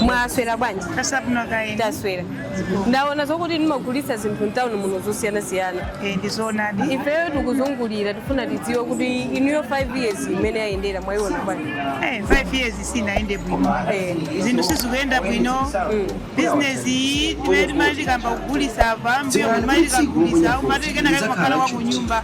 mwaswera bwanji Kasabno kaini. taswera ndaona zokuti mumagulitsa zinthu mtawuni muno zosiyanasiyana Eh, ndizonadi. ifeyo tikuzungulira tifuna tidziwe kuti inuyo 5 years imene yayendera mwayiona bwanji Eh, 5 years sinaende bwino. Eh. Zinthu sizikuyenda bwino. Business iyi timati tikamagulisa apa, mbuyo timati tikagulisa, umati kena kakakhala wa kunyumba.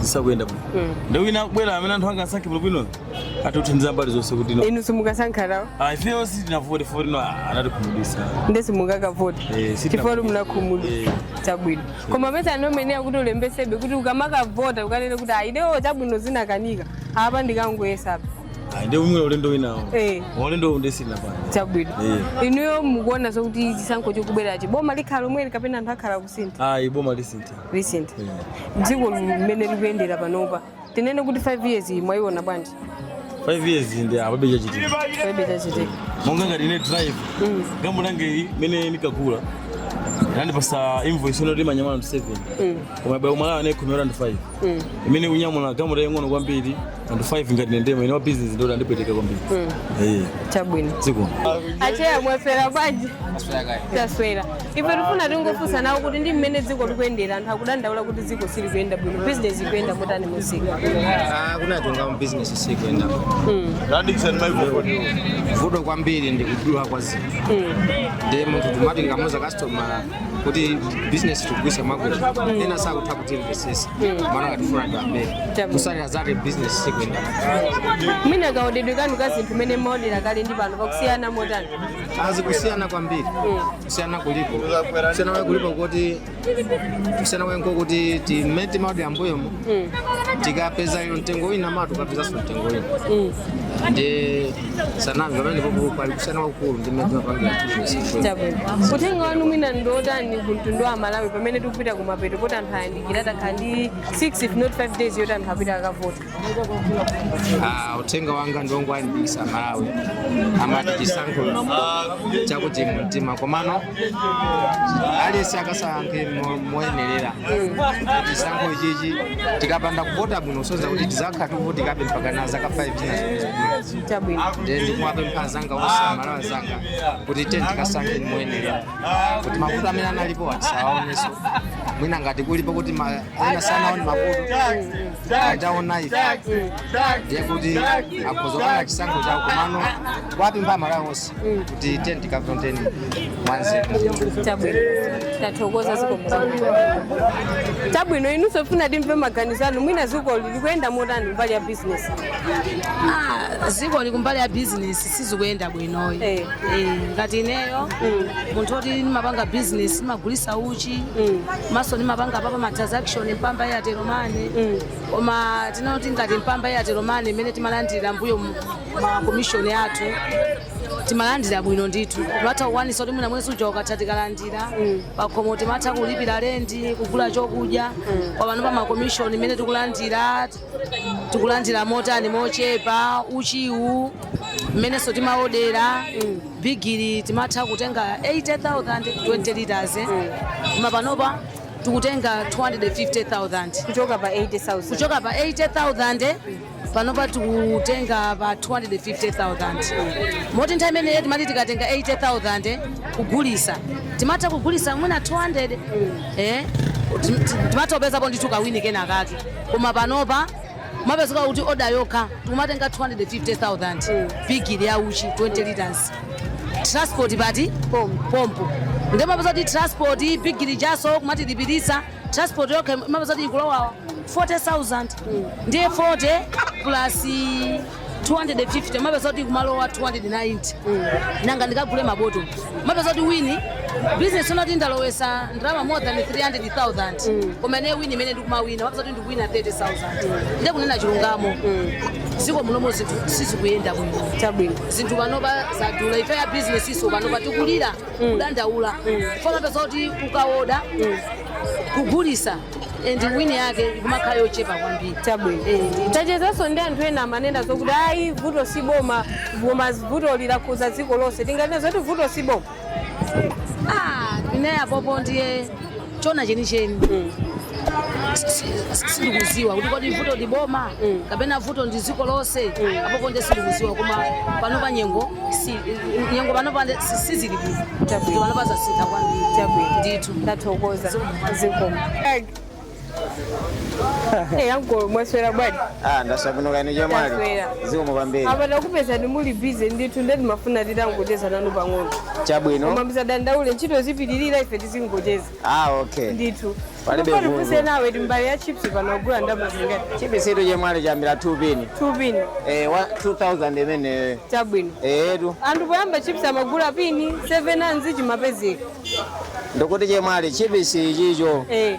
zisakuyenda bwino Mm. ndiye wina akubwera amene anthu angasankhe bwinobwino atithandiza mbali zonse kuti no inu simukasankha nawo Ah, ifeyo sitinavote voti no ah, anatikhumudwisa nde simungakavote Eh, sitina- chifukwa munakhumudwa Eh. chabwino koma paja ananena kuti ulembesebe kuti ukamakavota ukanene kuti ID-yo chabwino zinakanika apa ndikangoyesapo Ah, ndi umwe ulendo winawo Eh. ulendo uwu nde sitinapange chabwino Eh. inuyo mukuona zokuti chisankho chikubwerachi boma likhala lomweli kapena anthu akalisintha ayi boma lisintha recent dziko limene likuyendera panopa tinene kuti 5 years iyi mwayiona bwanji 5 years ndi palibe chachitika palibe chachitika monga ngati ine driver galimoto yanga iyi mmene ndinkagula anandipasa invoice yonoti imanyamula anthu 7 koma boma layo anayikhomera anthu 5 imene ikunyamula galimoto yaying'ono kwambiri anthu 5 ngati ndinemo ine wa business nde yandipweteka kwambiri Eh, chabwino zikomo acheya mwaswera bwanji taswera ife tifuna tingofunsa nawo kuti ndi mmene dziko likuyendera anthu akudandaula kuti dziko silikuyenda bwino bizinesi ikuyenda motani mumsika kunena zoona mabizinesi sikuenda vuto kwambiri ndi kudula kwa zinthu ndiye munthu timati tikamuuza kasitomala kuti business tikugulisa mwakuti ena sakutha kutimvesesa amaona ngati tikufuna tiwabere Chabu. zotsatira zake business sikuenda mwina kaodedwe kanu ka zinthu mene mumaodera kale ndi pano pakusiyana motani zikusiyana kwambiri kusiyana kulipo kusiyana kwake kulipo kuti kusiyana kwake nkokuti mmene timaodera mbuyomo tikapeza lero mtengo wina mawa tikapezanso mtengo wina ndiye sangamve pamenepapo pali kusiyana kwakukulu ndi mmene timapangira business Chabwino. Uthenga wanu mwina ndi otani ku mtundu wa aMalawi pamene tikupita ku mapeto poti masiku ayandikira tatsala ndi 6 if not 5 days yoti anthu apita akavota. Ah, uthenga wanga ndi wongowalimbikitsa aMalawi amati chisankho ncha kumtima komano aliyense akasankhe mo- moyenerera chisankho ichichi tikapanda kuvota bwino zoti tizakhala tikuvutikabe mpaka na zaka 5 zina chabwino nde ndikuwapempha anzanga onse aMalawi anzanga kuti tiyeni tikasankhe moyenerera kuti mavuto amene analipo tisawaoneso mwina ngati kulipo kuti ma- ena sanaone mavuto ataona ife ndiye kuti akudziwa okha chisankho chawo komano kuwapempha aMalawi onse kuti tiye tikavoteni mwanzeru chabwino tathokoza zikomo chabwino inunso tikufuna timve maganizo anu mwina dziko likuyenda motani mbali ya bizinesi Ah, dzikoli kumbali ya bizinesi sizikuyenda bwinoyi Eh. Eh, ngati ineyo munthu oti ndimapanga bizinesi ndimagulisa uchi komanso ndimapanga pama transaction mpamba Airtel Money koma tinene kuti ngati mpamba Airtel Money imene timalandira mbuyo mu- makomishoni athu timalandira bwino ndithu timatha kukwanisa kuti mwina mwezi uja ukatha tikalandira pakhomo timatha kulipira lendi kugula chokudya koma panopa makomishoni imene tikulandira tikulandira motani mochepa uchiwu mmenenso timaodera bigiri timatha kutenga 80000 20 liters eh. koma panopa tikutenga 250000 kuchoka pa 80000 kuchoka pa 80000 panopa tikutenga pa 250,000 moti nthawi imeneyo timati tikatenga 80,000 kugulisa timatha kugulisa mwina 200 eh, tim- tim- timatha kupezapo ndithu kawini kena kake koma panopa umapezeka kuti oda yokha tikumatenga 250,000 bigiri ya uchi 20 liters transport pali pompo ndipo umapeza kuti transport bigiri ijanso akumatilipiritsa transport yokha imapeza kuti ikulowa 40000 ndiye 40 plus 250 umapeza kuti kumalowa 290 nanga ndikagule mabotolo umapeza kuti wini business uona kuti ndalowetsa ndalama more than 300000 koma ine wini imene ndikumawina umapeza kuti ndikuwina 30000 ndiye kunena chilungamo dziko munomo zinthu sizikuyenda bwino chabwino zinthu panopa zadula ife a businessnso panopa tikulira kudandaula chifukwa umapeza kuti ukaoda kugulisa and wini yake ikumakhala yochepa kwambiri chabwino tachezanso ndi anthu ena amanena zokuti ayi vuto si boma koma vuto lakhudza dziko lonse tinganena zoti vuto si boma Ah, ine apopo ndiye choona chenicheni sindikudziwa kuti kodi vuto ndi boma kapena vuto ndi dziko lonse apopo ndiye sindikudziwa koma panopa nyengo si- nyengo panopa sizili bwino Chabwino. panopa zasintha kwambiri Chabwino. ndithu ndathokoza zikomo ankolo mwaswera bwanji Ah, ndaswera bwino kaya inu chemwali. Ndaswera. Zikomo kwambiri. apa takupezani muli bize ndithu nde timafuna titangocheza nanu pang'ono koma Chabwino. musadandaule ntchito zipitirira ife tizingocheza Ah, okay. ndithu Palibe Ndipo vuto. tifunse nawo timbale ya chips pano mukugula ndalama zingati Chipisitu chemwali chayambira 2 pin. 2 pin Eh, wa- 2000 imene. chabwino Eh, tu. anthu poyamba chips amagula pini 7 handzi chimapezeka Ndikuti chemwali chipisi chicho. eh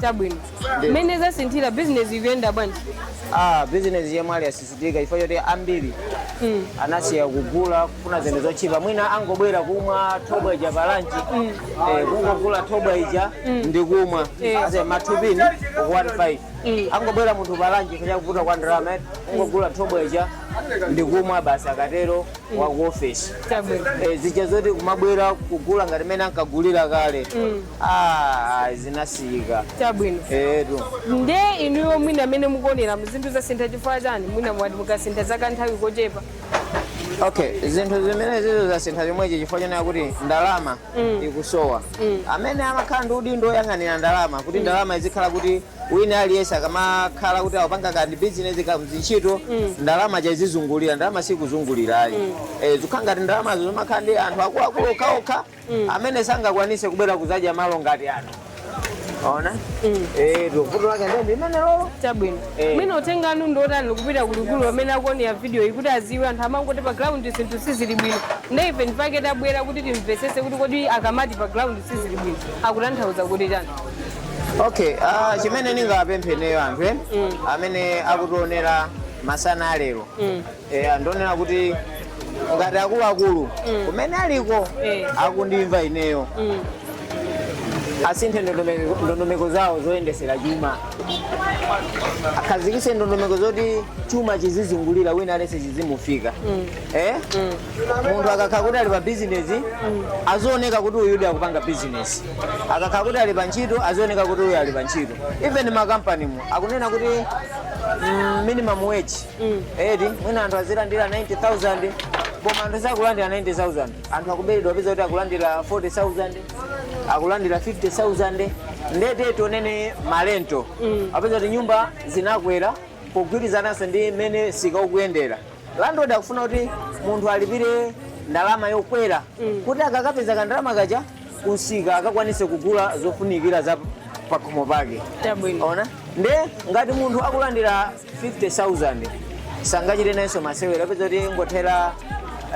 Chabwino. Mmene zasinthira business ikuyenda bwanji? ah business yomwe ili yasisitika chifukwa choti ambiri Mm. anasiya kugula kufuna zinthu zotchipa mwina angobwera kumwa thobwa ija pa lunch eh, kungogula thobwa ija ndi kumwa Eh. ase mathupini 15 Mm. angobwera munthu pa lunch chifukwa chakuvuta kwa ndalama eh, kungogula thobwa ija ndi kumwa basi akatero wa ku ofesi Chabwino. Eh, zija zoti kumabwera kugula ngati mene ankagulira kale Ah, ah, zinasiyika Chabwino. eetu nde inuyo mwina amene mukuonera zinthu zasintha chifukwa chani mwina mwati zasintha za kanthawi kochepa okay zinthu zimene zizo zasintha chomwechi chifukwa chonena kuti ndalama ikusowa amene amakhala ndi udindo woyang'anira ndalama kuti ndalama izikhala kuti wina aliyense akamakhala kuti akupanga kandi bizinesi kapena ntchito ndalama izizungulira ndalama sikuzungulira ayi Eh, zikhala ngati ndalamazo zomangokhala ndi anthu akuluakulu okhaokha amene sangakwanise kubwera kuzadya malo ngati ano ona Eh, vuto lake ndi limenelolo chabwino Eh. mwina uthenga wanu ndi otani kupita kwa akuluakulu amene akuonera video iyi kuti aziwe anthu amangoti pa ground zinthu sizili bwino nde ife ndipake tabwera kuti timvetsetse kuti kodi akamati pa ground sizili bwino akutanthauza kuti chani okay ah, chimene ndingawapemphe ineyo anthu eh, amene akutionera masana alero eh, ndi onena kuti ngati akuluakulu kumene aliko Eh. akundimva ineyo asinthe ndondomeko zawo zoyendetsera chuma akhazikise ndondomeko zoti chuma chizizungulira wina alese chizimufika eh? munthu akakhala kuti ali pa bizinesi azioneka kuti uyudi akupanga bizinesi akakhala kuti ali pa ntchito azioneka kuti uyu ali pa ntchito even makampanimu akunena kuti mm, minimum wage eti mwina anthu azilandira 90000 koma anthu sakulandira 90000 anthu akuberedwa upeza kuti akulandira 40000 akulandira 50000 ndiye titaona malenti upeza kuti nyumba zinakwera kugwirizananso ndi mmene msika ukuyendera landlord akufuna kuti munthu alipire ndalama yokwera kuti akakapeza kandalama kaja kumsika akakwanise kugula zofunikira za pakhomo pake Chabwino. ona nde ngati munthu akulandira 50000 sangachite nayonso masewera upeza kuti yangothera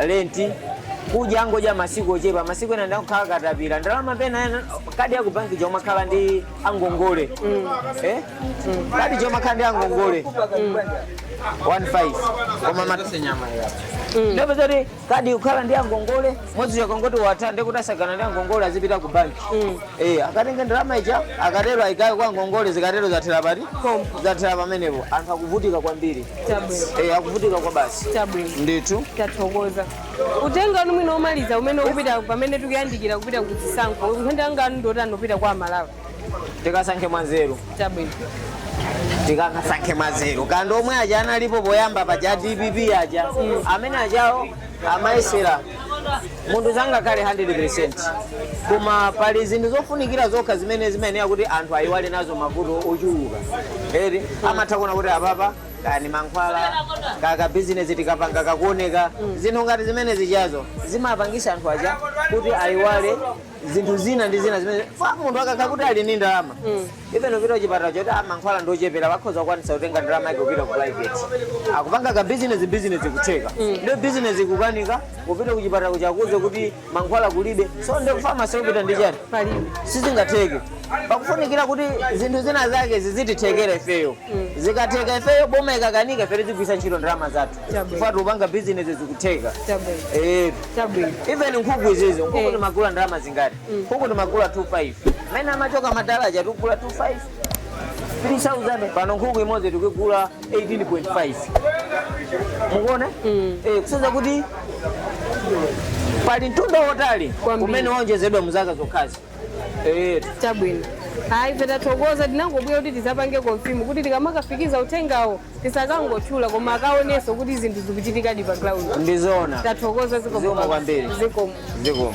lenti kudya angodya masiku ochepa masiku ena ndi akukhala akatapira ndalama pena ena- kadi yakubanki ija imakhala ndi angongole eh? kadi chomakhala ndi angongole 15 koma nde upeza kuti kadi ikukhala ndi angongole mwezi ukangoti watha ndekuti atsagana ndi angongole azipita ku banki Eh, akatenge ndalama ija akatero ayikanso kwa angongole zikatero zathera pati zathera pamenepo anthu akuvutika kwambiri Chabwino. Eh, akuvutika kwabasi Chabwino. ndithu tathokoza uthenga wanu mwina omaliza umene ukupita pamene tikuyandikira kupita ku chisankho uthenga wanu ndotani kupita kwa aMalawi tikasankhe mwanzeru chabwino tikasankhe mwanzeru kwa omwe aja analipo poyamba paja a dpp aja amene ajawo amayesera munthu sangakhale 100 koma pali zinthu zofunikira zokha zimene zimayenera kuti anthu ayiwale nazo mavuto ochuluka eri amatha kuona kuti apapa kaya ndi mankhwala kaya ka bizinesi tikapanga kakuoneka zinthu ngati zimene zijazo zimapangisa anthu aja kuti ayiwale zinthu zina ndi zina zimene munthu akakhala kuti ali ndi ndalama even apita kuchipatala choti mankhwala ndi ochepera akhoza kukwanisa kutenga ndalama yake kupita ku private akupanga ka bizinesi bizinesi kutheka ndio bizinesi kukanika kupita kuchipatala kukakuuza kuti mankhwala kulibe so ndio famasi kupita ndi chani palibe sizingatheke pakufunikira kuti zinthu zina zake zizitithekera ifeyo zikatheka ifeyo boma ikakanika ife tizigwisa ntchito ndalama zathu Chabwino. chifukwa tikupanga bizinesi zikutheka Chabwino. Eh, Chabwino. even nkhuku izizi nkhuku Eh. timagula ndalama zingati nkhuku timagula 25 mmene amachoka madala aja tikugula 25 3000 pano nkhuku imodzi tikugula 18.5 mukuona Eh, kusonyeza kuti pali mtunda wotali Kwambiri. umene waonjezedwa mu zaka zokhazi chabwino ayi ife tathokoza tinangobwera kuti tizapange konfimu kuti tikamakafikiza uthengawo tisakangotchula koma akaonenso kuti zinthu zikuchitikadi pa ground ndizona tathokoza zikomo Zikomo baba. kwambiri. zikomo zikomo